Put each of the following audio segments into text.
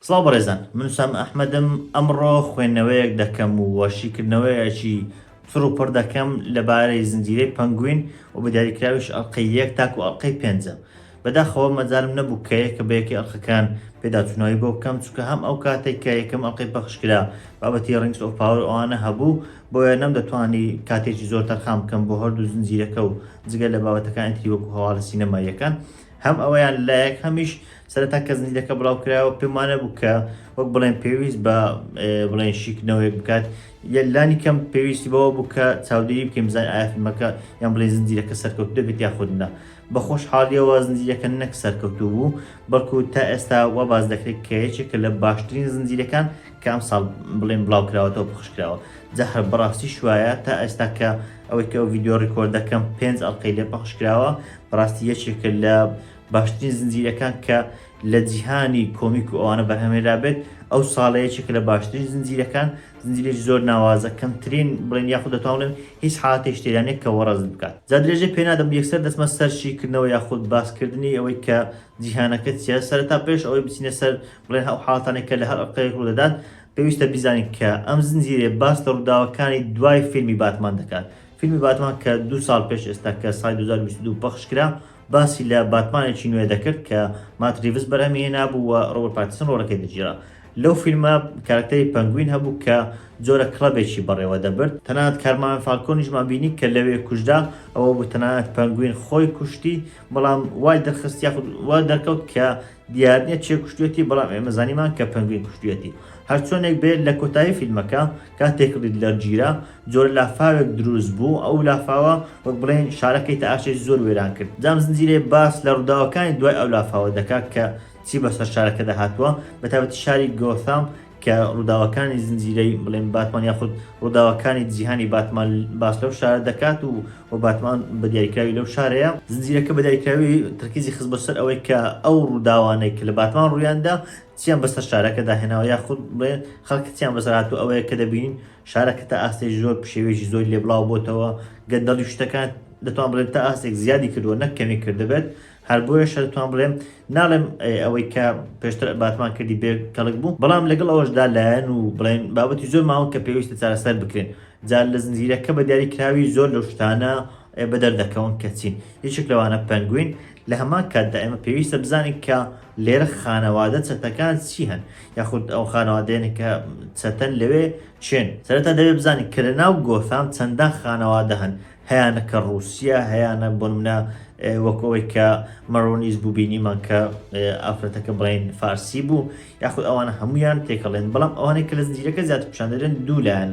سڵاو بەڕێزان من وسام ئەحمەدم ئەمڕۆ خوێندنەوەیەک دەکەم و شیکردنەوەیەکی چڕ و پڕ دەکەم لەبارەی زنجیرەی پەنگوین و بە دیاریکراویش ئەڵقەی یەک تاکو ئەڵقەی پێنجەم بەداخەوە مەجالم نەبوو کە یەکە بە یەکەی ئەڵقەکان پێداچوونەوەی بۆ بکەم چونکە هەم ئەو کاتەی کە یەکەم ئەڵقەی پەخش کرا بابەتی Rings of Power و ئەوانە هەبوو بۆیە نەمدەتوانی کاتێکی زۆر تەرخان بکەم بۆ هەردوو زنجیرەکە و جگە لە بابەتەکانی تری وەکو هەواڵە سینەماییەکە هەم ئەوەیان لایەک هەمیش سەرەتا کە زنجیرەکە بڵاو کرایەوە پێم وانە بوو کە وەک بڵێن پێویست بە بڵێن شیکردنەوەیەک بکات یە لانی کەم پێویستی بەوە بوو کە چاودێری بکەین بزانین ئایا فیلمەکە یان بڵێن زنجیرەکە سەرکەوتوو دەبێت یاخود نا بە خۆشحاڵییەوە زنجیرەکە نەک سەرکەوتوو بوو، بەڵکو تا ئێستا وا باس دەکرێت کە یەکێکە لە باشترین زنجیرەکان کە ئەمساڵ بڵێن بڵاوکراوەتەوە پەخشکراوە، جا هەر بەڕاستیش وایە تا ئێستا کە ئەوەی کە ئەو ڤیدیۆ ڕیکۆرد دەکەم پێنج ئەڵقەی لێ پەخشکراوە، بەڕاستی یەکێکە لە باشترین زنجیرەکان کە لە جیهانی کۆمیک و ئەوانە بەرهەمهێنرابێت، ئەو ساڵە یەکێکە لە باشترین زنجیرەکان، زنجبیل زۆر ناوازە کەمترین بڵێن یاخود دەتوان بڵێم هیچ حاڵەتێکیش تێدا نیە کە وەڕەزت بکات جا درێژەی پێ نادەم یەکسەر دەچمە سەر شی کردنەوە یاخود باس کردنی ئەوەی کە جیهانەکە چیە سەرەتا پێش ئەوەی بچینە سەر بڵێن ئەو حاڵەتانەی کە لە هەر ئەڵقەیەک ڕوو دەدات پێویستە بیزانین کە ئەم زنجیرەیە باس لە ڕووداوەکانی دوای فیلمی باتمان دەکات فیلمی باتمان کە دوو ساڵ پێش ئێستا کە ساڵی دوو هەزار و بیست و دوو پەخش کرا باسی لە باتمانێکی نوێ دەکرد کە مات ریڤس بەرهەمی هێنابوو و ڕۆبەرت پاتیسن ڕۆڵەکەی دەگێرا. لەو فیلمە کارەکتەری پەنگوین هەبوو کە جۆرە کڵەبێکی بەڕێوە دەبرد، تەنانەت کارماوێن فالکۆنیشمان بینی کە لەوێ کوژرا، ئەوە بوو تەنانەت پەنگوین خۆی کوشتی، بەڵام وای دەرخست یاخود وا دەرکەوت کە دیارنیە کێ کوشتویەتی بەڵام ئێمە زانیمان کە پەنگوین کوشتویەتی هەرچۆنێک بێت لە کۆتایی فیلمەکە کاتێک ریدلەر گیرا جۆرە لافاوێک دروست بوو ئەو لافاوە وەک بڵێین شارەکەی تاشێکی زۆر وێران کرد جام زنجیرەی باس لە ڕوداوەکانی دوای ئەو لافاوە دەکات کە چی بەسەر شارەکەدا هاتووە بەتایبەتی شاری گۆثام کە ڕووداوەکانی زنجیرەی بڵێن باتمان یاخود ڕووداوەکانی جیهانی باتمان باس لەو شارە دەکات و و باتمان بە دیاریکراوی لەو شارەیە زنجیرەکە بە دیاریکراوی ترکیزی خز بەسەر ئەوەی کە ئەو ڕووداوانەی کە لە باتمان ڕوویاندا چیان بەسەر شارەکە داهێناوە یاخود بڵێ خەڵکتیان بەسەرات و ئەوەیە کە دەبین شارەکە تا ئاستی زۆر پشێوێکی زۆر لێبڵاو بۆتەوە گەندەڵی شتەکان دەتوان بڵێت تا ئاستێک زیادی کردووە نەکەمی کردبێت هەر بۆیەشە دەتوان بڵێم ناڵێم ئەوەی کە پێشتر باتمان کردی بێ کەڵک بوو بەڵام لەگەڵ ئەوەشدا لایەن و بڵێن بابەتی زۆر ماوە کە پێویستە چارەسەر بکرێن جا لە زنجیرەکە بە دیاری کراوی زۆر لەو شتانە بە دەردەکەون کە چین یەکێک لەوانە پەنگوین لە هەمان کاتدا ئێمە پێویستە بزانین کە لێرە خانەوادە چەتەکان چی هەن یاخود ئەو خانەوادێنە کە چەتەن لەوێ چێن سەرەتا دەوێ بزانین کە لە ناو گۆسام چەندان خانەوادە هەن هەیانە کە ڕووسیە هەیانە بۆنمونە وەک ئەوەی کە مەرۆنیز بوو بینیمان کە ئافرەتەکە بڵین فارسی بوو یاخود ئەوانە هەمویان تێکەڵێن بەڵام ئەوانێک کە لە زنجیرەکە زیات پیشاندرێن دوولایەن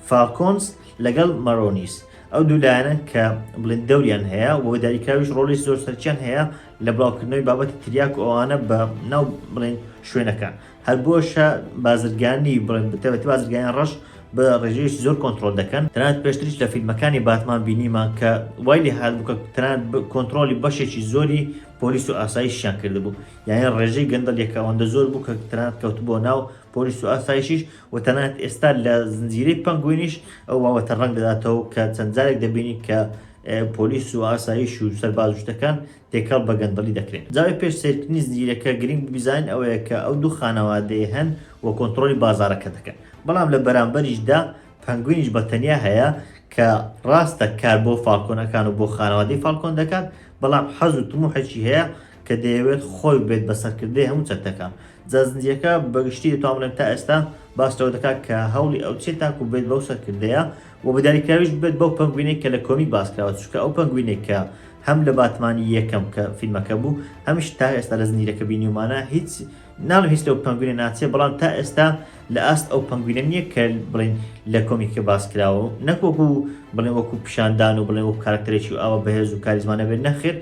فالکۆنس لەگەڵ مەرۆنیس ئەو دوولایەنە کە بڵێن دەوریان هەیە و داریکراویش ڕۆلی زۆر سەرچیان هەیە لە بڵاوکردنەوەی بابەتی تریاک و ئەوانە بە ناو بڵێن شوێنەکان هەر بۆشە بازرگانی بڵێن بتەوێت بازرگانی ڕەش بە ڕێژەیەکی زۆر کۆنتترۆل دەکەن تەنات پێشتریش لە فیلمەکانی باتمان بینیمان کە وای لێ هاات بکە تەنات کۆنتترۆلی بەشێکی زۆری پۆلیس و ئاسایشیان کردبوو یانە ڕێژەی گەندەل یەکەوەندە زۆر بوو کە تەنات کەوت بۆ ناو پۆلیس و ئاسایشیش و تەنات ئێستا لە زنجیرەی پەنگوینیش ئەو واوەتە ڕەنگ دەداتەوە کە چەند جارێک دەبینی کە پۆلیس و ئاسایش و سەربازشتەکان تێکەڵ بە گەندەڵی دەکرێن. جاوێ پێش سەیرکردنی زنجیرەکە گرنگ ببیزانین ئەوەیە کە ئەو دوو خانەوادەیە هەن و کۆنتڕۆلی بازاڕەکە دەکەن بەڵام لە بەرامبەریشدا پەنگوینیش بە تەنیا هەیە کە ڕاستە کار بۆ فاڵکۆنەکان و بۆ خانەوادەی فاڵکۆن دەکات بەڵام حەز و تموحێکی هەیە کە دەیەوێت خۆی بێت بە سەرکردەی هەموو چەتەکان جا زنجیرەکە بەگشتی دەتوان بڵێم تا ئێستا باس لەوە دەکات کە هەوڵی ئەو چیە تاکو بێت بەو سەرکردەیە و بەدیاریکراویش ببێت بەو پەنگوینەی کە لە کۆمیک باسکراوە چونکە ئەو پەنگوینەی کە هەم لە باتمانی یەکەم کە فیلمەکە بوو هەمیش تا ئێستا لە زنجیرە کە بینیومانە هیچ ناڵم هیچ لەو پەنگوینە ناچێت بەڵام تا ئێستا لە ئاست ئەو پەنگوینە نییە کە بڵین لە کۆمیکە باسکراوە نەکۆک و بڵێ وەکو پیشاندان و بڵێ و کارکتەرێکی ئاوە بەهێز و کاریزمانە بێت نەخێر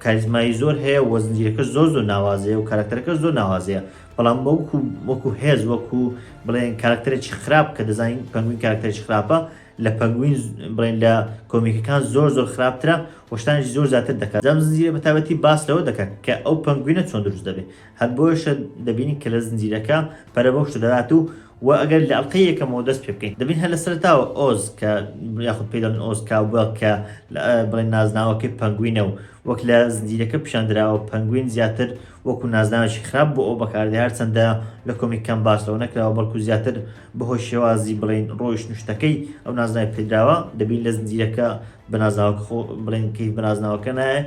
کاریزمای زۆر هەیە و زنجیرەکەش زۆر زۆر ناوازەیە و کاراکتەرەکەش زۆر ناوازەیە بەڵام وەکو وەکو هێز وەکو بڵێن کاراکتەرێکی خراپ کە دەزانین پەنگوین کاراکتەرێکی خراپە لە پەنگوین بڵێن لە کۆمیکەکان زۆر زۆر خراپترە وەشتانێکی زۆر زیاتر دەکات زەم زنجیرە بەتابەتی باس لەوە دەکات کە ئەو پەنگوینە چۆن دروست دەبێت هەر بۆیەشە دەبینین کە لە زنجیرەکە پەرە بەو شتە دەدات و وە ئەگەر لە ئەڵقەی یەکەمەوە دەست پێ بکەین دەبین هەر لە سەرەتاوە ئۆز کە یاخود پێی دەڵێن ئۆز کاوبێڵ کە بڵێن نازناوەکەی پەنگوینە و وەک لە زنجیرەکە پیشان دراوە پەنگوین زیاتر وەکو نازناوێکی خراپ بۆ ئەو بەکاردێ هەرچەندە لە کۆمیکەکان باس لەوە نەکراوە بەڵکو زیاتر بەهۆی شێوازی بڵێین ڕۆیشتن و شتەکەی ئەو نازناوی پێدراوە دەبین لە زنجیرەکە بە نازناوەکە خۆ بڵێن کەیف بە نازناوەکە نایێ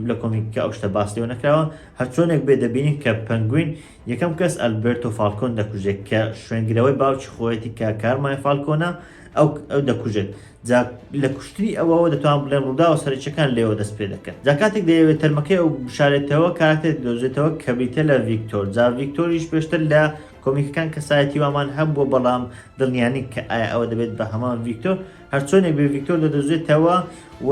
لە کۆمیکەکە ئەو شتە باس لێوە نەکراوە، هەرچۆنێک بێت دەبینین کە پەنگوین یەکەم کەس ئەلبێرتۆ فالکۆن دەکوژێت کە شوێنگرەوەی باوکی خۆیەتی کە کارمای فالکۆنە ئەو ئەو دەکوژێت جا لە کوشتنی ئەوەوە دەتوان بڵێن ڕووداوە سەرەکیەکان لێوە دەست پێ دەکەن جا کاتێک دەیەوێت تەرمەکەی ئەو بشارێتەوە کارەکتێک دۆزێتەوە کە بریتە لە ڤیکتۆر جا ڤیکتۆریش پێشتر لە کۆمیکەکان کەسایەتی وامان هەبووە بەڵام دڵنیانی کە ئایا ئەوە دەبێت بە هەمان ڤیکتۆر هەرچۆنێک بێ ڤیکتۆر دەدۆزێتەوە و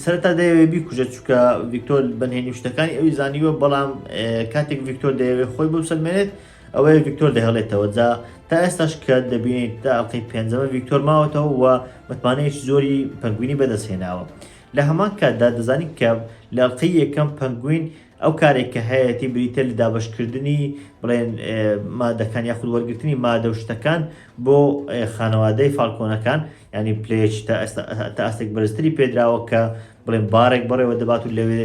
سەرتا دەیەوێ بیکوژە چووکە ڤیکتۆر بەنهێنی شتەکانی ئەوی زانیوە بەڵام کاتێک ڤیکتۆر دەیەوێ خۆی بۆ سەلمێنێت ئەوەیە ڤیکتۆر دەهێڵێتەوە جا تا ئێستاش کە دەبینیت تا ئەڵلقەی پێنجەمە ڤیکتۆر ماوەتەوە و متمانەیەکی زۆری پەنگوینی بەدەستهێناوە لە هەمان کاتدا دەزانین کە لە ئەڵلقەی یەکەم پەنگوین ئەو کارەی کە هەیەتی بریتیە لە دابەشکردنی بڵێن مادەکان یاخود وەرگرتنی مادە و شتەکان بۆ خانەوادەی فالکۆنەکان ینی پلێچ تا ئاستێک بەرزتری پێدراوە کە بڵێن بارێک بەڕێوە دەبات و لەوێ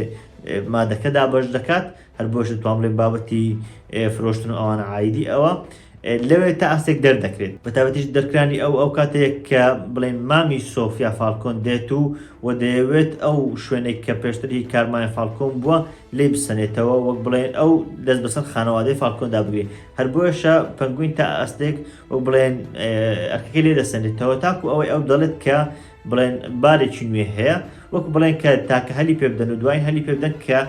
مادەکە دابەش دەکات هەر بۆش توانڵێن بابەتی فرۆشتن ئەوان عیدی ئەوە لەوێ تا ئاستێک دەردەکرێت بەتایبەتیش دەرکرانی ئەو ئەو کاتێک کە بڵێن مامی سۆفیا فالکۆن دێت و و دەیەوێت ئەو شوێنێک کە پێشتری کارمای فالکۆن بووە لی بسەنێتەوە وەک بڵێن ئەو دەست بەسەر خانەوادەی فالکۆندا بگرێت هەر بۆیشە پەنگوین تا ئاستێک و بڵێن ئەرکەکەی لێ دەسەنێتەوە تاکو ئەوەی ئەو دەڵێت کە بڵێن بارێکی نوێ هەیە وەک بڵێن کە تاکە هەلی پێبدەن و دوای هەلی پێبدەن کە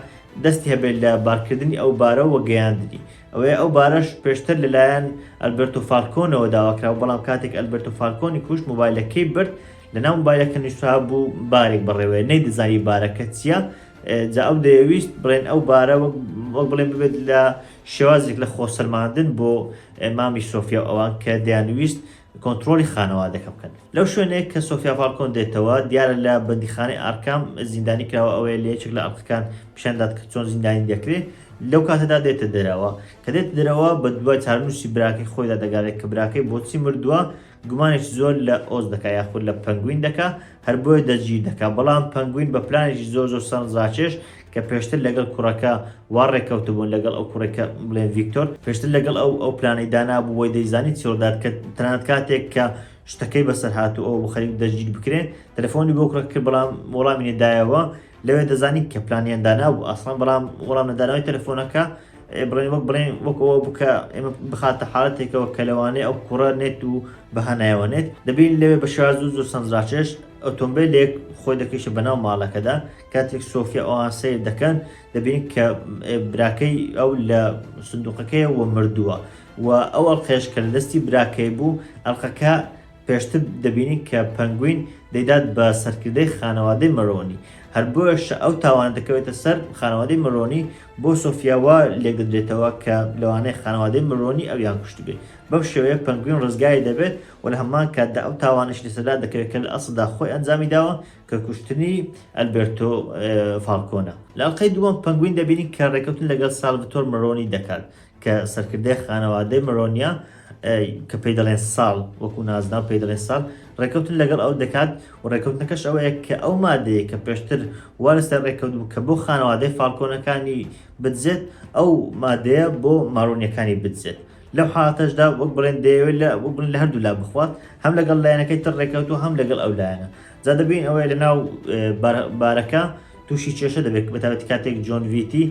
دەستی هەبێت لە بارکردنی ئەو بارە و گەیاندنی ئەوەیە ئەو بارەش پێشتر لەلایەن ئەلبێرتۆ فالکۆنەوە داواکرابوو، بەڵام کاتێک ئەلبێرتۆ فالکۆنی کوشت مۆبایلەکەی برد، لەناو مۆبایلەکە نووسرابوو بارێک بڕێوەیە، نەیدەزانی بارەکە چییە، جا ئەو دەیەویست بڵێن ئەو بارە وەک بڵێن ببێت لە شێوازێک لە خۆسەلماندن بۆ مامی سۆفیا و ئەوان کە دەیانویست کۆنترۆڵی خانەوادەکە بکەن. لەو شوێنەی کە سۆفیا فالکۆن دێتەوە، دیارە لە بەندیخانەی ئارکام زیندانی کراوە، ئەوەیە لە یەکێک لە ئەڵقەکان پیشان دات کە چۆن زیندانی دەکرێت، لەو کاتەدا دێتە دەرەوە، کە دێتە دەرەوە بە دوای چارەنووسی براکەی خۆیدا دەگەڕێت کە براکەی بۆچی مردووە، گومانێکی زۆر لە ئۆز دەکات یاخود لە پەنگوین دەکات، هەر بۆیە دەستگیر دەکات، بەڵام پەنگوین بە پلانێکی زۆر زۆر سەرنجڕاکێش کە پێشتر لەگەڵ کوڕەکە وا ڕێککەوتبوون لەگەڵ ئەو کوڕێک کە بڵێن ڤیکتۆر پێشتر لەگەڵ ئەو ئەو پلانەی دانابوو وەی دەیزانی چی ڕوودات کە تەنانەت کاتێک کە شتەکەی بەسەر هاتوو ئەو خەریک دەستگیر بکرێ تەلەفۆنی بۆ کوڕەکە کرد بەڵام وەڵامی نەدایەوە لەوێ دەزانی کە پلانیان دانابوو ئەسڵان بەڵام وەڵام نەدانەوەی تەلەفۆنەکە بڵێن وەک بڵێن وەک ئەوە بکە ئێمە بخاتە حاڵەتێکەوە کە لەوانەیە ئەو کوڕە نێت و بەهانایەوە نێت دەبین لەوێ بە شێوازو زۆر سەنجڕاکێش ئۆتۆمبیلێک خۆی دەکەیشە بەناو ماڵەکەدا کاتێک سۆفیا ئەوان سەیر دەکەن دەبینن کە براکەی ئەو لە سندوقەکەی وە مردووە و ئەو ئەڵقەیەش کە لە دەستی براکەی بوو ئەلقەکە پێشتر دەبینین کە پەنگوین دەیدات بە سەرکردەی خانەوادەی مەرۆنی هەر بۆش ئەو تاوان دەکەوێتە سەر خانەوادەی مەرۆنی بۆ سۆفیاوە لێکدەدرێتەوە کە لەوانەیە خانەوادەی مەرۆنی ئەویان کوشتبێت بەم شێوەیە پەنگوین ڕزگاری دەبێت و لە هەمان کاتدا ئەو تاوانش لەسەردا دەکەوێت کە لە ئەسڵدا خۆی ئەنجامی داوە کە کوشتنی ئەلبێرتۆ فاڵکۆنە. لە ئەڵقەی دووەم پەنگوین دەبینین کە ڕێکەوتن لەگەڵ سالڤتۆر مەرۆنی دەکات کە سەرکردەی خانەوادەی مەرۆنیە کە پێی دەڵێن ساڵ وەکو نازناو پێی دەڵێن ساڵ ڕێکەوتن لەگەڵ ئەو دەکات و ڕێکەوتنەکەش ئەوەیە کە ئەو مادەیە کە پێشتر وارستە ڕێکەوت بوو کە بۆ خانەوادەی فالکۆنەکانی بدزێت ئەو مادەیە بۆ ماڕۆنیەکانی بدزێت لەو حالاتەشدا وەک بڵێن دەیەوێت لە وەک بڵێن لە هەردوو لا بخوات هەم لەگەڵ لایەنەکەی تر ڕێکەوت و هەم لەگەڵ ئەو لایەنە جا دەبین ئەوەیە لە ناو بارەکە تووشی کێشە دەبێت بەتابەت کاتێک جۆن ویتی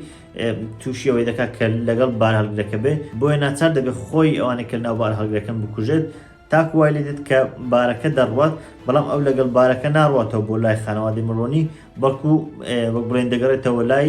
تووشی ئەوەی دەکات کە لەگەڵ بار هەڵگرەکە بێ بۆیە ناچار دەبێت خۆی ئەوانە کە ناو بار هەڵگرەکەم بکوژێت تاکو وای لێ دێت کە بارەکە دەڕوات بەڵام ئەو لەگەڵ بارەکە ناڕاتەوە بۆ لای خانەوادی مڕۆنی بەڵکو وەک بڵێن دەگەڕێتەوە لای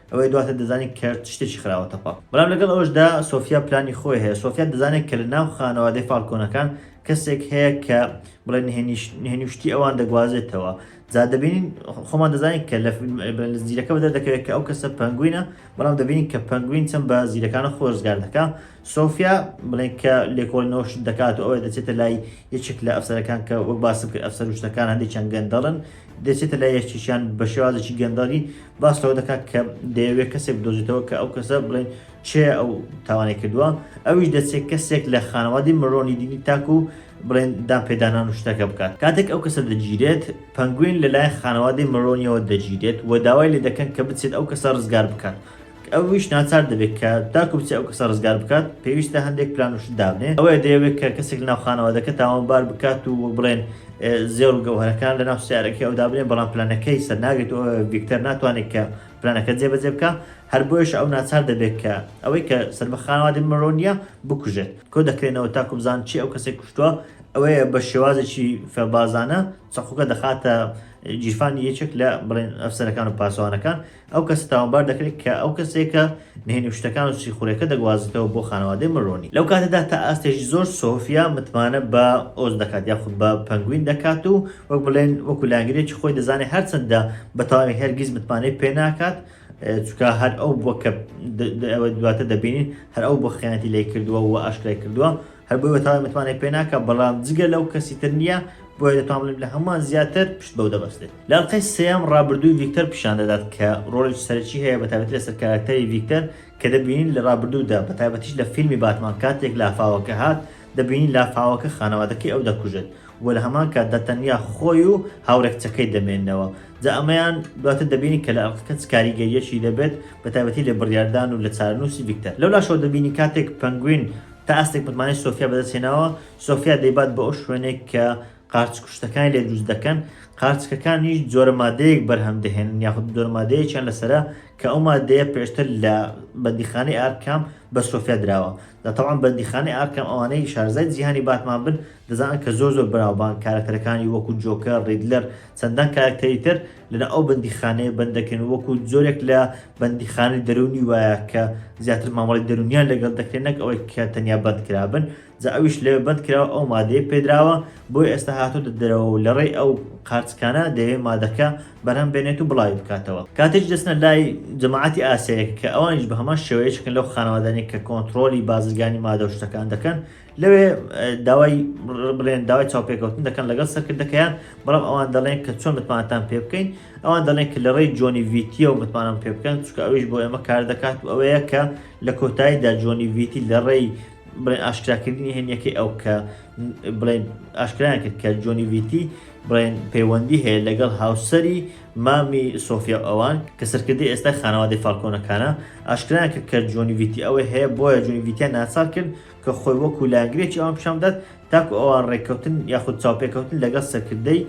ئەوەی دواتر دەزانی کە شتێکی خراوە تەپە. بەڵام لەگەڵ ئەوەشدا سۆفیا پلانی خۆی هەیە، سۆفیا دەزانێت کە لە ناو خانەوادەی فالکۆنەکان کەسێک هەیە کە بڵێ نهێنی و شتی ئەوان دەگوازێتەوە، جا دەبینین خۆمان دەزانین کە لە زیرەکە بەدەردەکەوێت کە ئەو کەسە پەنگوینە، بەڵام دەبینین کە پەنگوین چەند بە زیرەکانە خۆی ڕزگار دەکا، سۆفیا بڵێن کە لێکۆڵینەوە شت دەکات و ئەوە دەچێتە لای یەکێک لە ئەفسەرەکان کە وەک باسم کرد ئەفسەر و شتەکان هەندێکیان گەندەڵن دەچێتە لای یەکێکیان بە شێوازێکی گەندەڵی باس لەوە دەکات کە دەیەوێت کەسێک بدۆزێتەوە کە ئەو کەسە بڵێن چێ ئەو تاوانەی کردووە ئەویش دەچێت کەسێک لە خانەوادی مرۆنی دینی تاکو و بڵێن دان پێدانان و شتەکە بکات کاتێک ئەو کەسە دەگیرێت پەنگوین لەلایەن خانەوادەی مرۆنیەوە دەگیرێت و داوای لێ دەکەن کە بچێت ئەو کەسە ڕزگار بکات ئەویش ناچار دەبێت کە تاکو بچێت ئەو کەسە ڕزگار بکات پێویستە هەندێک پلان و شت دابنێت ئەوەیە دەیەوێت کە کەسێک لەناو خانەوادەکە تاوانبار بکات و وەک بڵێن زێڕ و گەوهەرەکان لەناو سیارەکەی ئەو دابنێن بەڵام پلانەکەی سەر ناگرێت و ڤیکتەر ناتوانێت کە پلانەکە جێبەجێ بکە هەر بۆیش ئەو ناچار دەبێت کە ئەوەی کە سەر بە خانەوادەی مرۆ نییە بکوژێت کۆ دەکرێنەوە تاکو بزان چی ئەو کەسێک کوشتووە ئەوەیە بە شێوازێکی فێڵبازانە چەقوکە دەخاتە گیرفانی یەکێک لە بڵێن ئەفسەرەکان و پاسەوانەکان ئەو کەسە تاوانبار دەکرێت کە ئەو کەسێکە نهێنی و شتەکان و سیخوڕیەکە دەگوازێتەوە بۆ خانەوادەی مەرۆنی. لەو کاتەدا تا ئاستێکی زۆر سۆفیا متمانە بە ئۆز دەکات یاخود بە پەنگوین دەکات و وەک بڵێن وەکو لایەنگرێکی خۆی دەزانێت هەرچەندە بە تەواوی هەرگیز متمانەی پێ ناکات چونکە هەر ئەو بووە کە دواتر دەبینین هەر ئەو بووە خیانەتی لێ کردووە و ئاشکرای کردووە. هەر بۆیە بەتەواوی متمانەی پێ ناکەم، بەڵام جگە لەو کەسی تر نییە، بۆیە دەتوان بڵێم لە هەمووان زیاتر پشت بەو دەبەستێت. لە ئەڵقەی سێیەم ڕابردووی ڤیکتەر پیشان دەدات کە ڕۆڵێکی سەرەکی هەیە بەتایبەتی لەسەر کاراکتەری ڤیکتەر کە دەبینین لە ڕابردوودا بەتایبەتیش لە فیلمی باتمان کاتێک لافاوەکە هات دەبینین لافاوەکە خانەوادەکەی ئەو دەکوژێت و لە هەمان کاتدا تەنیا خۆی و هاوڕێ کچەکەی دەمێننەوە جا ئەمەیان دواتر دەبینین کە لە ئەڵقەکە چ کاریگەریەکی دەبێت بەتایبەتی لە بڕیاردان و لە چارەنووسی ڤیکتەر لەولاشەوە دەبینین کاتێک پەنگوین تا ئاستێک متمانەی سۆفیا بەدەست هێناوە، سۆفیا دەیبات بۆ ئەو شوێنەی کە قارچ کوشتەکانی لێ دروست دەکەن، قارچکەکانیش جۆرە مادەیەک بەرهەم دەهێنن یاخود جۆرە مادەیەکیان لەسەرە کە ئەو مادەیە پێشتر لە بەندیخانەی ئارکام بە سۆفیا دراوە، جا تەبعەن بەندیخانەی ئارکام ئەوانەی شارەزای جیهانی باتمان بن دەزانن کە زۆر زۆر بەناوبانگ کارەکتەرەکانی وەکو جۆکەر، ڕیدلەر، چەندان کارەکتەری تر لەناو ئەو بەندیخانەیە بەند دەکرێن وەکو جۆرێک لە بەندیخانەی دەروونی وایە کە زیاتر مامەڵەی دەروونیان لەگەڵ دەکرێت نەک ئەوەی کە تەنیا بەندکرابن جا ئەویش لەوێ بەندکراوە ئەو مادەیە پێدراوە بۆی ئێستا هاتۆتە دەرەوە و لەڕێی ئەو قارچکانە دەیەوێت مادەکە بەرهەم بێنێت و بڵاوی بکاتەوە کاتێک دەچنە لای جەماعەتی ئاسیایەک کە ئەوانیش بە هەمان شێوەیە چکن لەو خانەوادانەی کە کۆنتڕۆلی بازرگانی مادە و شتەکان دەکەن لەوێ داوای بڵێن داوای چاوپێکەوتن دەکەن لەگەڵ سەرکردەکەیان بەڵام ئەوان دەڵێن کە چۆن متمانتان پێ بکەین ئەوان دەڵێن کە لە ڕێی جۆنی ویتیە و متمانم پێ بکەن چکە ئەویش بۆ ئێمە کار دەکات و ئەوەیە کە لە کۆتاییدا جۆنی ویتی لە ڕێی بڵێن ئاشکراکردنی هێنیەکەی ئەو کە بڵێن ئاشکرایان کرد کە جۆنی ویتی بڵێن پەیوەندی هەیە لەگەڵ هاوسری مامی سۆفیا ئەوان کە سەرکردی ئێستا خانەوادەی فالکۆنەکانە ئاشکرایان کرد کە جۆنی ویتی ئەوەی هەیە بۆیە جۆنی ویتیان ناچار کرد کە خۆی وەکو لایەنگرێکی ئەوان پیشان بدات تاکو ئەوان ڕێککەوتن یاخود چاوپێکەوتن لەگەڵ سەرکردەی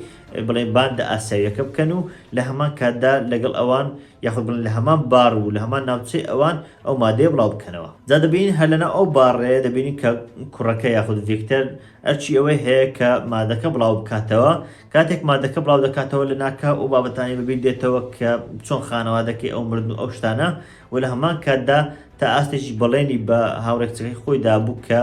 بڵێ باندە ئاسیاویەکە بکەن و لە هەمان کاتدا لەگەڵ ئەوان یاخود بڵێن لە هەمان بار و لە هەمان ناوچەی ئەوان ئەو مادەیە بڵاو بکەنەوە جا دەبینین هەر لەناو ئەو باڕەیە دەبینین کە کوڕەکە یاخود ڤیکتەر ئەرچی ئەوەی هەیە کە مادەکە بڵاو بکاتەوە کاتێک مادەکە بڵاو دەکاتەوە لە ناکاو ئەو بابەتانی بەبیر دێتەوە کە چۆن خانەوادەکەی ئەو مردن و ئەو شتانە و لە هەمان کاتدا تا ئاستێکیش بەڵێنی بە هاوڕێ کچەکەی خۆی دابوو کە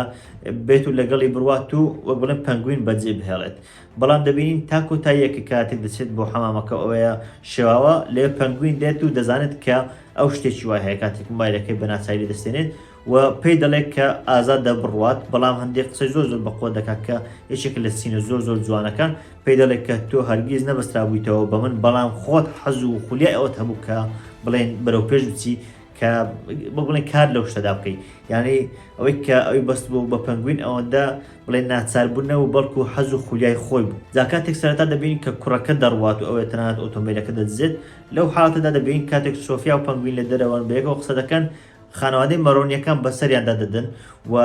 بێت و لەگەڵی بڕوات و وەک بڵێن پەنگوین بەجێ بهێڵێت بەڵام دەبینین تا کۆتاییە کە کاتێک دەچێت بۆ حەمامەکە ئەوەیە شێواوە لێ پەنگوین دێت و دەزانێت کە ئەو شتێکی وای هەیە کاتێک موبایلەکەی بە ناچاری لێ دەستێنێت و پێی دەڵێت کە ئازادە بڕوات، بەڵام هەندێک قسەی زۆر زۆر بەقوەت دەکات کە یەکێکە لە سینە زۆر زۆر جوانەکان، پێی دەڵێت کە تۆ هەرگیز نەبەسترابوویتەوە بە من، بەڵام خۆت حەز و خولیای ئەوەت هەبوو کە بڵێین بەرەوپێش بچی، کە وەک بڵێین کار لەو شتەدا بکەی، یەعنی ئەوەی کە ئەوی بەستبووە بە پەنگوین ئەوەندە بڵێین ناچاربوون نەبوو، بەڵکو حەز و خولیای خۆی بوو. جا کاتێک سەرەتا دەبینین کە کوڕەکە دەڕوات و ئەوێ تەنانەت ئۆتۆمبێلەکە دەدزێت، لەو حاڵەتەدا دەبینین کاتێک سۆفیا و پەنگوین لە دەرەوەن بەیەکەوە قسە دەکەن، خانەوادەی مەرۆنیەکان بەسەریاندا دەدەن و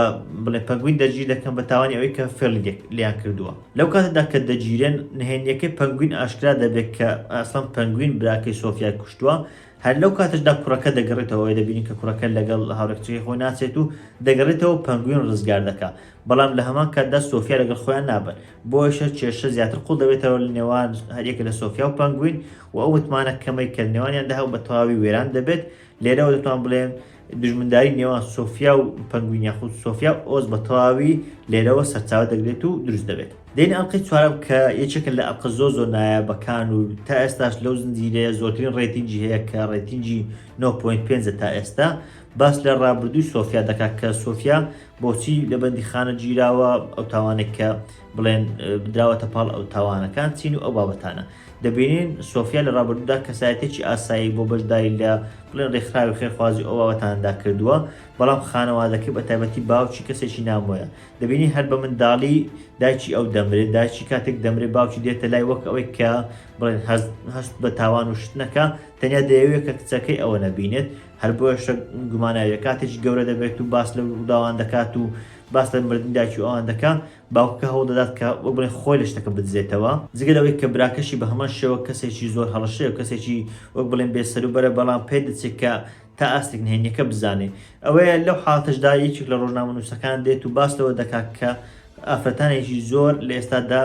بڵێ پەنگوین دەرگیر دەکەن بە تاوانی ئەوەی کە فێڵیدێک لیان کردووە لەو کاتەدا کە دەگیرێن نهێنیەکەی پەنگوین ئاشکرا دەبێت کە ئاسڵەن پەنگوین براکەی سۆفیای کوشتووە هەر لەو کاتەشدا کوڕەکە دەگەڕێتەوەی دەبینین کە کوڕەکە لەگەڵ هاوڕێکچەکەی خۆی ناچێت و دەگەڕێتەوە پەنگوین ڕزگار دەکا بەڵام لە هەمان کاتدا سۆفیا لەگەڵ خۆیان نابن بۆیشە کێشە زیاتر قوڵ دەبێتەوە لە نێوان هەریەکە لە سۆفیا و پەنگوین و ئەو متمانە کەمەی کە نێوانیان داهاو بە تەواوی وێران دەبێت لێرەوە دەتوان بڵێن دژمنداری نێوان سۆفیا و پەنگوین یاخود سۆفیا و ئۆز بە تەواوی لێرەوە سەرچاوە دەگرێت و دروست دەبێت دێنی ئەڵلقەی چوارەم کە یەکێکە لە ئەڵلقە زۆ زۆر نایابەکان و تا ئێستاش لەو زنجیرەیە زۆرترین ڕێتینجی هەیە کە ڕێتینجی 9.5 تا ئێستا باس لە ڕابردووی سۆفیا دەکات کە سۆفیا بۆچی لە بەندی خانە گیراوە ئەو تاوانێک کە بڵێن بدراوەتە پاڵ ئەو تاوانەکان چین و ئەو بابەتانە دەبینین سۆفیا لە ڕابردوودا کەسایەتیەکی ئاسایی بۆ بەشداری لە بڵێن ڕێکخراوی خێرخوازی ئەو بابەتانەدا کردووە، بەڵام خانەوادەکەی بە تایبەتی باوکی کەسێکی نامۆیە. دەبینین هەر بە منداڵی دایکی ئەو دەمرێت، دایکی کاتێک دەمرێت باوکی دێتە لای وەک ئەوەی کە بڵێن هەست بە تاوان و شت نەکا، تەنیا دەیەوێت کە کچەکەی ئەوە نەبینێت، هەر بۆیەشە گوماناویە کاتێکی گەورە دەبێت و باس لەو ڕووداوان دەکات و باس لە مردنی دایکی ئەوان دەکا، باوکەکە هەوڵدەدات کە وەک بڵێن خۆی لە شتەکە بدزێتەوە، جگە لەوەی کە براکەشی بە هەمان شێوە کەسێکی زۆر هەڕەشەیە و کەسێکی وەک بڵێن بێ سەروبەرە، بەڵام پێدەچێت کە تا ئاستێک نهێنییەکە بزانێت. ئەوەیە لەو حاڵەتەشدا یەکێک لە ڕۆژنامەنووسەکان دێت و باس لەوە دەکات کە ئافرەتانێکی زۆر لە ئێستادا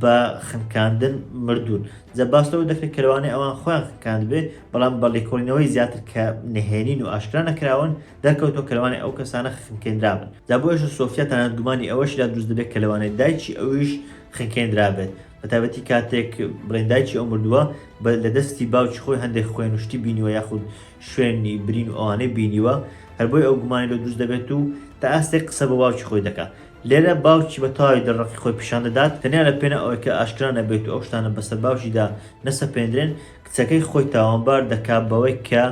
بە خنکاندن مردوون، جا باس لەوە دەکرێت کە لەوانەیە ئەوان خۆیان خنکاندبێت، بەڵام بە لێکۆڵینەوەی زیاتر کە نهێنین و ئاشکرا نەکراون، دەرکەوتەوە کە لەوانەیە ئەو کەسانە خنکێنرابن، جا بۆیەشە سۆفیا تەنانەت گومانی ئەوەشی لا دروست دەبێت کە لەوانەیە دایکی ئەویش خنکێنرابێت، بەتایبەتی کاتێک بڵێن دایکی ئەو مردووە بە لە دەستی باوکی خۆی هەندێک خوێن و شتی بینیوە یاخود شوێنی برین و ئەوانەی بینیوە، هەر بۆیە ئەو گومانی لۆ دروست دەبێت و تا ئاستێک قسە بۆ باوکی خۆی دەکا. لێرە باوکی بە تەواوی دڵرەقی خۆی پیشان دەدات، تەنیا لە پێناو ئەوەی کە ئاشکرا نەبێت و ئەو شتانە بەسەر باوکیدا نەسەپێندرێن، کچەکەی خۆی تاوانبار دەکا بەوەی کە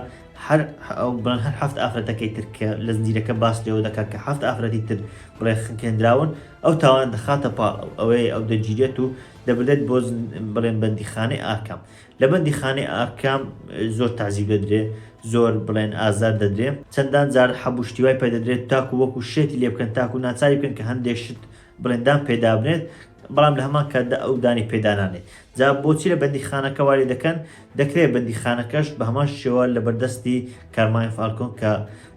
هەر ئەو بڵێن هەر حەفت ئافرەتەکەی تر کە لە زنجیرەکە باس لێوە دەکات کە حەفت ئافرەتی تر بڵێ خنکێنراون ئەو تاوان دەخاتە پاڵ ئەو ئەوەیە ئەو دەگیرێت و دەبرێت بۆ بڵێن بەندیخانەی ئاکام لە بەندیخانەی ئاکام زۆر تازیب دەدرێ زۆر بڵێن ئازار دەدرێ چەندان جار حەبوشتیوای پێدەدرێت تاکو وەکو شێتی لێ بکەن تاکو ناچاری بکەن کە هەندێک شت بڵێن دان پێدابنێت بەڵام لە هەمان کاتدا ئەو دانی پێدانانێت جا بۆچی لە بەندیخانەکە واری دەکەن دەکرێت بەندیخانەکەش بە هەمان شێوە لە بەردەستی کارمای فالکۆن کە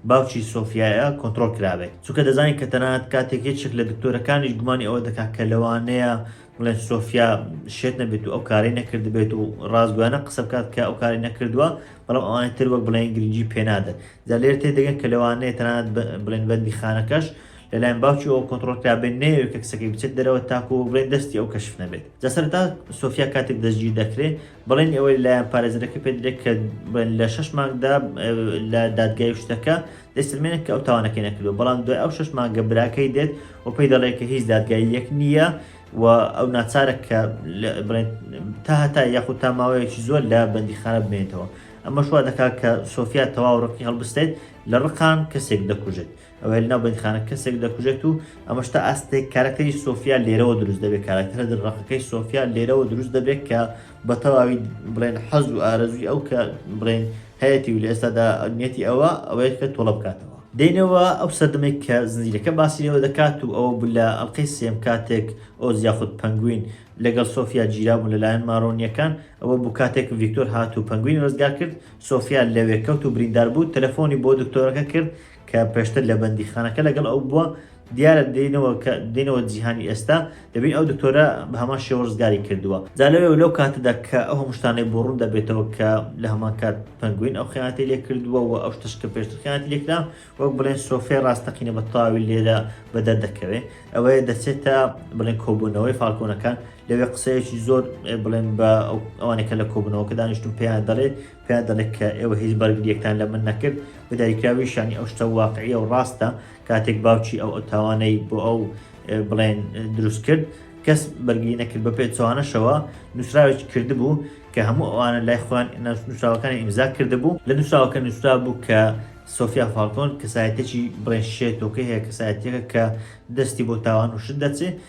باوکی سۆفیایە کۆنتترۆل کرابێت چونکە دەزانین کە تەنات کاتێک یەکێک لە دکتۆرەکانیش گومانی ئەوە دەکات کە لەوانەیە بڵێن سۆفیا شێت نەبێت و ئەو کاری نەکردبێت و ڕازگویانە قسە بکات کە ئەو کاری نەکردووە بەڵام ئەوانی تر وەک بڵێن گرنگی پێنادەن جا لێر تێ دەگەن کە لەوانەیە تەنات بڵێن بەندی خانەکەش لەلایەن باوکیەوە کۆنتڕۆڵ کرابێت نەیەوێت کە کچەکەی بچێت دەرەوە تاکو بڵێن دەستی ئەو کەشف نەبێت جا سەرەتا سۆفیا کاتێک دەستگیر دەکرێت بڵێنی ئەوەی لایەن پارێزەرەکە پێ درێت کە لە شش مانگدا لە دادگای شتەکە دەسرمێنێت کە ئەو تاوانەکەی نەکردو بەڵام دوای ئەو شش مانگە براکەی دێت و پێی دەڵێت کە هیچ دادگای یەک نییە و ئەو ناچارە کە بڵێن تا هەتا یاخود تا ماوەیەکی زۆر لە بەندیخانە بمێنێتەوە ئەمە شوا دەکات کە سۆفیا تەواو ڕقی هەڵبستێت لە ڕقان کەسێک دەکوژێت ئەوەیە لەناو بەندیخانە کەسێک دەکوژێت و ئەمەش تا ئاستێک کارەکتەری سۆفیا لێرەوە دروست دەبێت کارەکتەرە دڕەقەکەی سۆفیا لێرەوە دروست دەبێت کە بە تەواوی بڵێن حەز و ئارەزوی ئەو کە بڵێن هەیەی و لە ئێستادا نیەتی ئەوە ئەوەیە کە تۆڵە بکاتەوە دێنەوە ئەو سەردەمێک کە زنجیرەکە باسی لەوە دەکات و ئەوە بوو لە ئەڵلقەی سێم کاتێک ئۆز یاخود پەنگوین لەگەڵ سۆفیا گیرابوون لەلایەن مارۆنیەکان ئەوە بوو کاتێک ڤیکتۆر هات و پەنگوین ڕزگار کرد سۆفیا لەوێ کەوت و بریندار بوو تەلەفۆنی بۆ دکتۆرەکە کرد کە پێشتر لە بەندیخانەکە لەگەڵ ئەو بووە، دیارە دێنەوە کە دێنەوە جیهانی ئێستا، دەبین ئەو دکتۆرە بە هەمان شێوە ڕزگاری کردووە. جا لەوێ و لەو کاتەدا کە ئەو هەموو شتانەی بۆ ڕوون دەبێتەوە کە لە هەمان کات پەنگوین ئەو خیانەتەی لێ کردووە و ئەو شتەش کە پێشتر خیانەتی لێ کرا، وەک بڵێن سۆفیای ڕاستەقینە بە تەواوی لێرە بە دەر دەکەوێ. ئەوەیە دەچێتە بڵێن کۆبوونەوەی فالکۆنەکان، لەوێ قسەیەکی زۆر بڵێن بە ئەوانەی کە لە کۆبوونەوەکە دانیشتوون پێیان دەڵێ، پێیان دەڵێ کە ئێوە هیچ بەرگریەکتان لە من نەکرد، بە داریکراوی شانی ئەو شتە واقعیە و ڕاستە، کاتێک باوکی ئەو ئەو تاوانەی بۆ ئەو بڵێن دروست کرد، کەس بەرگری نەکرد، بە پێچەوانەشەوە نووسراوێکی کردبوو کە هەموو ئەوانە لای خۆیان نووسراوەکانیان ئیمزا کردبوو، لە نووسراوەکە نووسرابوو کە سۆفیا فالکۆن کەسایەتیەکی بڵێن شێتۆکەی هەیە، کەسایەتیەکە کە دەستی بۆ تاوان و شت دەچێ،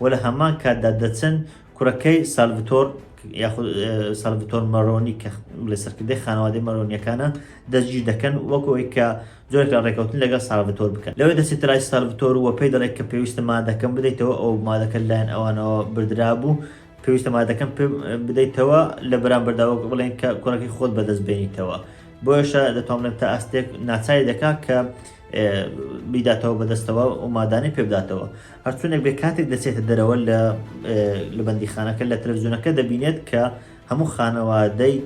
و لە هەمان کاتدا دەچن کوڕەکەی سالڤتۆر یاخود سالڤتۆر مەرۆنی کە لە سەرکردەی خانەوادەی مەرۆنیەکانە دەستگیر دەکەن وەکو ئەوی کە زۆرێک لە ڕێکەوتن لەگەڵ سالڤتۆر بکەن لەوێ دەچێتە لای سالڤتۆر و پێی دەڵێت کە پێویستە مادەکەم بدەیتەوە ئەو مادەکە لایەن ئەوانەوە بردرابوو پێویستە مادەکەم پێ بدەیتەوە لە بەرامبەردا وەک بڵێن کە کوڕەکەی خۆت بەدەست بێنیتەوە بۆیشە دەتوانم تا ئاستێک ناچاری دەکات کە بیداتەوە بەدەستەوە و مادانی پێبداتەوە هەرچونێک بێ کاتێک دەچێتە دەرەوە لە لە بەندیخانەکە لە تەلەڤزیۆنەکە دەبینێت کە هەموو خانەوادەی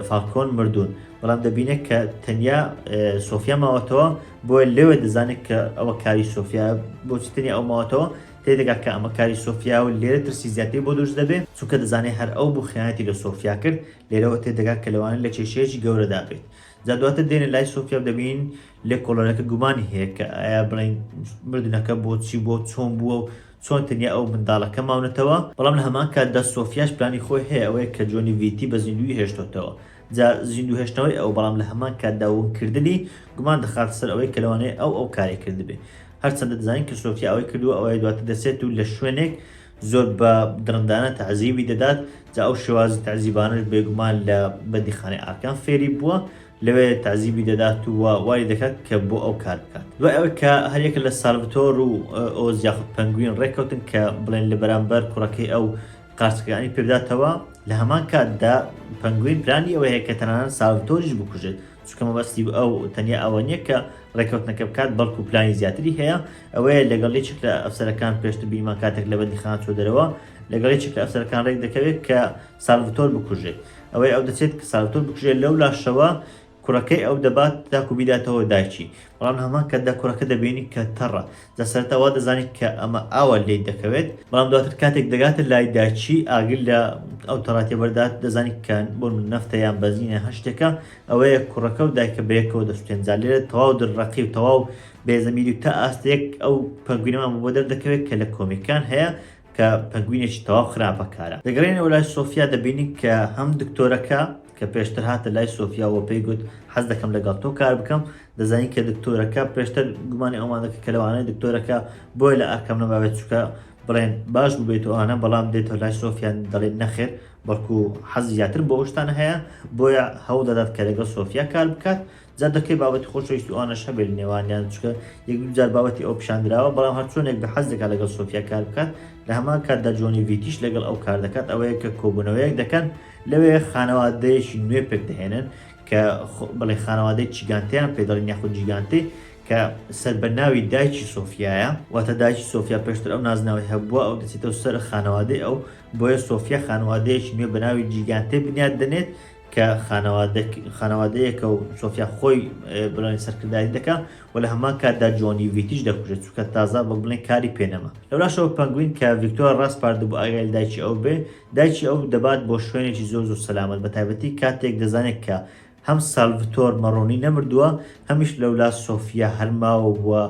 فالکۆن مردوون بەڵام دەبینێت کە تەنیا سۆفیا ماوەتەوە بۆیە لەوێ دەزانێت کە ئەوە کاری سۆفیا بۆچی تەنیا ئەو ماوەتەوە تێدەگا کە ئەمە کاری سۆفیا و لێرە ترسی زیاتری بۆ دروست دەبێت چونکە دەزانێت هەر ئەو بوو خیانەتی لە سۆفیا کرد لێرەوە تێدەگات کە لەوانە لە کێشەیەکی گەورەدا بێت جا دواتر دێنە لای سۆفیا و دەبینین لێکۆڵەرەکە گومانی هەیە کە ئایا بڵێین مردنەکە بۆچی بووە و چۆن بووە و چۆن تەنیا ئەو منداڵەکە ماونەتەوە، بەڵام لە هەمان کاتدا سۆفیاش پلانی خۆی هەیە ئەوەیە کە جۆنی ڤیتی بە زیندوویی هێشتۆتەوە، جا زیندوو هێشتنەوەی ئەو بەڵام لە هەمان کاتدا ون کردنی گومان دەخاتە سەر ئەوەی کە لەوانەیە ئەو ئەو کارەی کردبێ هەرچەندە دەزانین کە سۆفیا ئەوەی کردووە ئەوەیە دواتر دەچێت و لە شوێنێک زۆر بە دڕندانە تەعزیبی دەدات، جا ئەو شێوازی تەعزیبانەش بێگومان لە بەندیخانەی ئارکان فێری بووە، لەوێ تەعزیبی دەدات و وای دەکات کە بۆ ئەو کار بکات. دوای ئەوەی کە هەر یەکە لە سالڤتۆر و ئۆز یاخود پەنگوین ڕێککەوتن کە بڵێن لە بەرامبەر کوڕەکەی ئەو قارچکەکانی پێبداتەوە، لە هەمان کاتدا پەنگوین پلانی ئەوەی هەیە کە تەنانەت سالڤتۆریش بکوژێت، چونکە مەبەستی ئەو تەنیا ئەوە نییە کە ڕێککەوتنەکە بکات بەڵکو پلانی زیاتری هەیە ئەوەیە لەگەڵ یەکێک لە ئەفسەرەکان پێشتر بیمان کاتێک لە بەندیخان چۆ دەرەوە لەگەڵ یەکێک لە ئەفسەرەکان ڕێک دەکەوێت کە سالڤتۆر بکوژێت ئەوەی ئەو دەچێت کە سالڤتۆر بکوژێت لەو لاشەوە کوڕەکەی ئەو دەبات تاکو بیداتەوە دایکی بەڵام هەمان کە دە کوڕەکە دەبینی کە تەڕە لە سەرەتا وا دەزانی کە ئەمە ئاوا لێی دەکەوێت، بەڵام دواتر کاتێک دەگاتە لای داچی ئاگر لە ئەو تەڕاتیە بەردات دەزانی کە بۆ نەفتە یان بەنزینە هەر شتێکە، ئەوەیە کوڕەکە و دایکە بەیەکەوە دەسوتێن جا لێرە تەواو دڕڕەقی و تەواو بێ زەمیری و تا ئاستێک ئەو پەنگوینەمان بۆ دەردەکەوێت کە لە کۆمیکان هەیە کە پەنگوینێکی تەواو خراپە کارە دەگەڕێنەوە لای سۆفیا دەبینین کە هەم دکتۆرەکە کە پێشتر هاتە لای سۆفیاوە پێی گوت حەز دەکەم لەگەڵ تۆ کار بکەم دەزانین کە دکتۆرەکە پێشتر گومانی ئەومانەکە کە لەوانەیە دکتۆرەکە بۆیە لە ئەرکەم نەماوێت چکە بڵێن باش ببێت ئەوانە بەڵام دێتەوە لای سۆفیان دەڵێن نەخێر بەڵکو حەز زیاتر بۆ ئەوشتان هەیە بۆیە هەوڵ دەدات کە لەگەڵ سۆفیا کار بکات جا دەکرێت بابەتی خۆشەویستی ئەوانەش هەبێت نێوانیان چکە یەک دوو جار بابەتی ئەو پیشاندراوە بەڵام هەرچۆنێک بە حەز دەکات لەگەڵ سۆفیا کار بکات لە هەمان کاتدا جۆنی ڤیتیش لەگەڵ ئەو کار دەکات ئەوەیە کە کۆبوونەوەیەک دەکەن لەوێ خانەوادەیەکی نوێ پێک دەهێنن کە بڵێ خانەوادەی چیگانتیان پێدەڵین یاخود جیگانتی کە سەر بە ناوی دایکی سۆفیایە واتە دایکی سۆفیا پێشتر ئەو نازناوی هەبووە ئەو دەچێتەوە سەر خانەوادەی ئەو بۆیە سۆفیا خانوادەیەکی نوێ بە ناوی جیگانتێ بنیاد دەنێت کە خانەوادەیەکە و سۆفیا خۆی بڵێن سەرکردایەتی دەکا و لە هەمان کاتدا جۆنی ڤیتیش دەکوژێت چونکە تازە وەک بڵێن کاری پێ نەما لەولاشەوە پەنگوین کە ڤیکتۆر ڕاسپاردبوو ئاگای لە دایکی ئەو بێ دایکی ئەو دەبات بۆ شوێنێکی زۆر زۆر سەلامەت بە تایبەتی کاتێک دەزانێت کە هەم سالڤتۆر مەڕۆنی نەمردووە هەمیش لەولا سۆفیا هەر ماوە بووە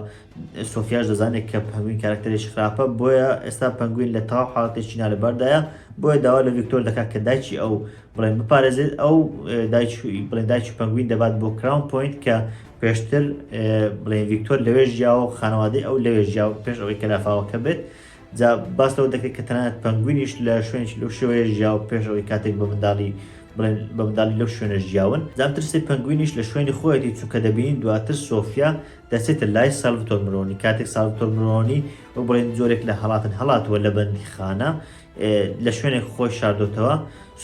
سۆفیاش دەزانێت کە پەنگوین کارکتەرێکی خراپە بۆیە ئێستا پەنگوین لە تەواو حاڵەتێکی نالەباردایە بۆیە داوا لە ڤیکتۆر دەکات کە دایکی ئەو بڵێن بپارێزێت ئەو بڵێن دایکی پەنگوین دەبات بۆ کراون پوینت کە پێشتر بڵێن ڤیکتۆر لەوێ ژیاوە و خانەوادەی ئەو لەوێ ژیا و پێش ئەوەی کە لافاوەکە بێت جا باس لەوە دەکرێت کە تەنانەت پەنگوینیش لە شوێنش لەو شێوەیە ژیا و پێش ئەوەی کاتێک بە منداڵی بڵێن بە منداڵی لەو شوێنە ژیاون زانترسی پەنگوینیش لە شوێنی خۆیەتی چونکە دەبینین دواتر سۆفیا دەچێتە لای ساڵتۆر مرۆنی کاتێک ساڵتۆر مرۆنی و بڵێن جۆرێک لە هەڵاتن هەڵاتوە لە بەندی خانە لە شوێنێک خۆی شاردۆتەوە،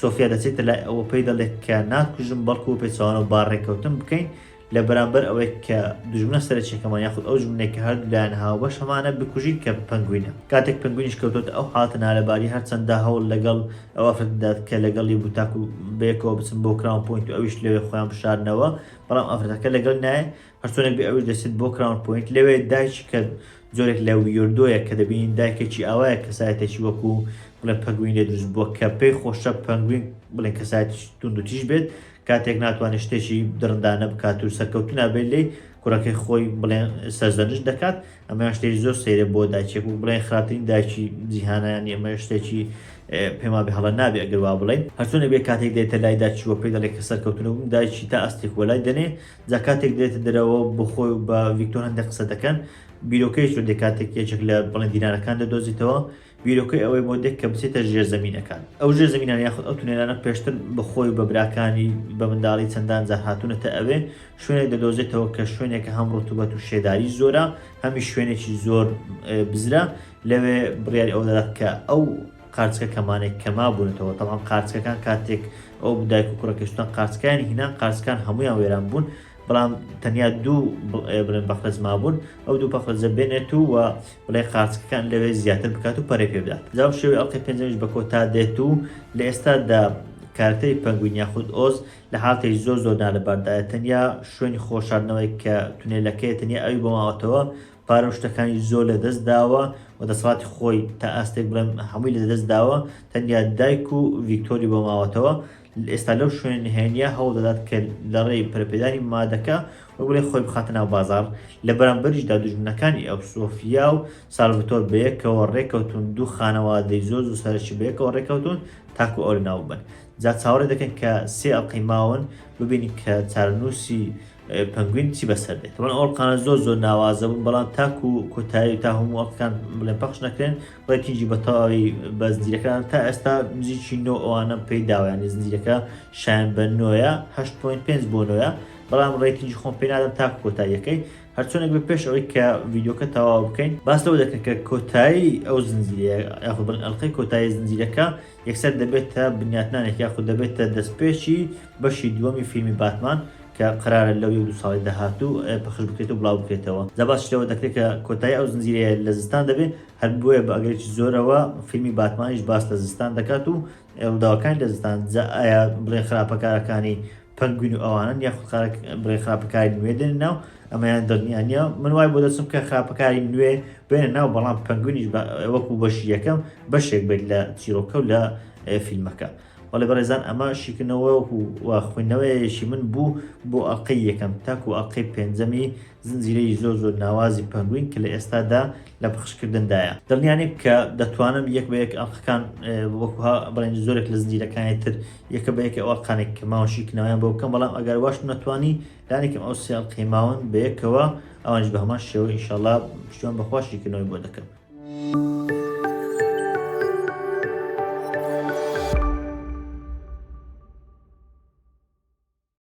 سۆفیا دەچێتە لای ئەو و پێی دەڵێت کە ناتکوژم بەڵکو بەپێچەوانەوە با رێککەوتن بکەین لە بەرامبەر ئەوەی کە دوژمنە سەرەکیەکەمان یاخود ئەو دوژمنەی کە هەردوو لایان هاوبەشەمانە بکوژین کە پەنگوینە. کاتێک پەنگوینیش کەوتۆتە ئەو حاڵەتە نالەباری هەرچەندە هەوڵ لەگەڵ ئەو ئافرەتە دەدات کە لەگەڵی بوو تاکو بەیەکەوە بچن بۆ کراون پۆینت و ئەویش لەوێ خۆیان بشارنەوە بەڵام ئافرەتەکە لەگەڵی نایەت هەرچۆنێک بێ ئەویش دەچێت بۆ کراون پۆینت لەوێ دایکی کە جۆرێک لە ویۆردۆیە کە دەبینین دایکێکی ئاوایە کەسایەتێکی وەکو بڵێ پەنگوین لێ دروست بووە کە پێی خۆشە پەنگوین بڵێ کەسایەت توندوتیش بێت کاتێک ناتوانێت شتێکی دڕندانە بکات و سەرکەوتو نابێت لی کوڕەکەی خۆی بڵێن سەرزەنش دەکات ئەمە شتێک زۆر سەیرە بۆ داچێک و بڵێن خراپترین داچی جیهانیان ئەمە شتێکی پێما بێ هەڵە نابێ ئەگەر وا بڵێن هەرچۆنە بێ کاتێک دێتە لای داچووە پێی دەڵێ کە سەرکەوتنەوە دایکی تا ئەستی خۆلای دەنێ جا کاتێک دێتە دەرەوە بۆ خۆی و بە ڤیکتۆر هەندێک قسە دەکەن، بیرۆکەیش لۆ دێ کاتێک یەکێک لە بەڵێن دینارەکان دەدۆزیتەوە، بیرۆکەی ئەوەی بۆ دێ کە بچێتە ژێر زەمینەکان. ئەو ژێر زەمینانە یاخود ئەو تونێلانە پێشتر بە خۆی و بە براکانی بە منداڵی چەندان جار هاتوونەتە ئەوێ، شوێنێک دەدۆزێتەوە کە شوێنێکە هەم ڕوتوبەت و شێداری زۆرە، هەمیش شوێنێکی زۆر بزرە، لەوێ بڕیاری ئەوە دەدات کە ئەو. قارچکە کەمانێک کەما بونەتەوە تەبعەن قارچکەکان کاتێک ئەو دایک و کوڕەکە شتان قارچکانی هینان قارچکان هەمویان وێران بوون بەڵام تەنیا دوو بڵێن بەخرەج مابوون ئەو دوو پەخرەجە بێنێت و و بڵێ قارچکەکان لەوێ زیاتر بکات و پەرێ پێ بدات جاو شێوی ئەڵلقەی پێنجەمیش بە کۆتا دێت و لە ئێستادا کارکتەری پەنگوین یاخود ئۆز لە حالتێک زۆر زۆر نالەباردایە تەنیا شوێنی خۆشاردنەوەی کە تونێلەکەی تەنیا ئەوی بۆ ماوەتەوە پارە و شتەکانی زۆر لە دەست داوە و دەسەڵاتی خۆی تا ئاستێک بڵێم هەمووی لە دەست داوە تەنیا دایک و ڤیکتۆری بۆ ماوەتەوە ئێستا لەو شوێن نهێنیە هەوڵ دەدات کە لە ڕێی پەرپێدانی مادەکە و بڵێ خۆی بخاتە ناو بازار لە بەرامبەریشدا دوژمنەکانی ئەو سۆفیا و سالڤتۆر بەیەکەوە ڕێکەوتون دوو خانەوادەی زۆر زوو سەرشی بەیەکەوە ڕێکەوتون تاکو ئەو لەناو بن جا چاوەڕێ دەکەن کە سێ ئەڵقەی ماون ببینی کە چارەنووسی پەنگوین چی بەسەر دێت من ئەوڵقانە زۆر زۆر ناوازە بوون بەڵام تاکو کۆتایی تا هەموو ئەڵکان بڵێ پەخش نەکرێن ڕێتیجی بە تەواوی بە زنجیرەکان تا ئێستا نزیکی نۆ ئەوانە پێی داوایانی زنجیرەکە شایان بە نۆە 8.5 بۆ نۆە بەڵام ڕێتیجی خۆم پێنادەم تا کۆتاییەکەی هەرچۆنێک بە پێش ئەوەی کە ڤیددیوکە تەواو بکەین باس لەوە دەکەن کە کۆتایی ئەو زنجیرە یاخبن ئەلقەی کۆتایی زنجیرەکە یەکسەر دەبێتە بنیاتنانێک یاخود دەبێتە دەستپێکی بەشی دووەمی فیلمی باتمان کە قەرارە لەو یەک دوو ساڵەی داهاتوو پەخش بکرێت و بڵاو بکرێتەوە جا باسیش لەوە دەکرێت کە کۆتایی ئەو زنجیرەیە لە زستان دەبێت هەر بۆیە بە ئەگەرێکی زۆرەوە فیلمی باتمانیش باس لە زستان دەکات و ڕووداوەکانی لە زستان جا ئایا بڵێن خراپەکارەکانی پەنگوین و ئەوانەن یاخود خارک بڵێ خراپەکاری نوێ دێنە ناو ئەمەیان دڵنیا نییە من وای بۆ دەچم کە خراپەکاری نوێ بێنە ناو بەڵام پەنگوینیش وەکو بەشی یەکەم بەشێک بێت لە چیرۆکە و لە فیلمەکە وەڵێ بەڕێزان ئەمە شیکردنەوە و خوێندنەوەیەشی من بوو بۆ ئەڵلقەی یەکەم تاکو ئەڵلقەی پێنجەمی زنجیرەی زۆر زۆر ناوازی پەنگوین کە لە ئێستادا لە پەخشکردندایە دڵنیانێک کە دەتوانم یەک بە یەک ئەڵقەکان وەکوها بڵێن زۆرێک لە زنجیرەکانی تر یەکە بە یەکە ئەڵقانێک کە ماوەشی کناویان بۆ بکەم بەڵام ئەگەر واشم نەتوانی لانێکم ئەو سێڵ قەیماون بەیەکەوە ئەوانش بە هەمان شێوە ئیشەڵا پشتوان بەخواشی کردنەوەی بۆ دەکەم.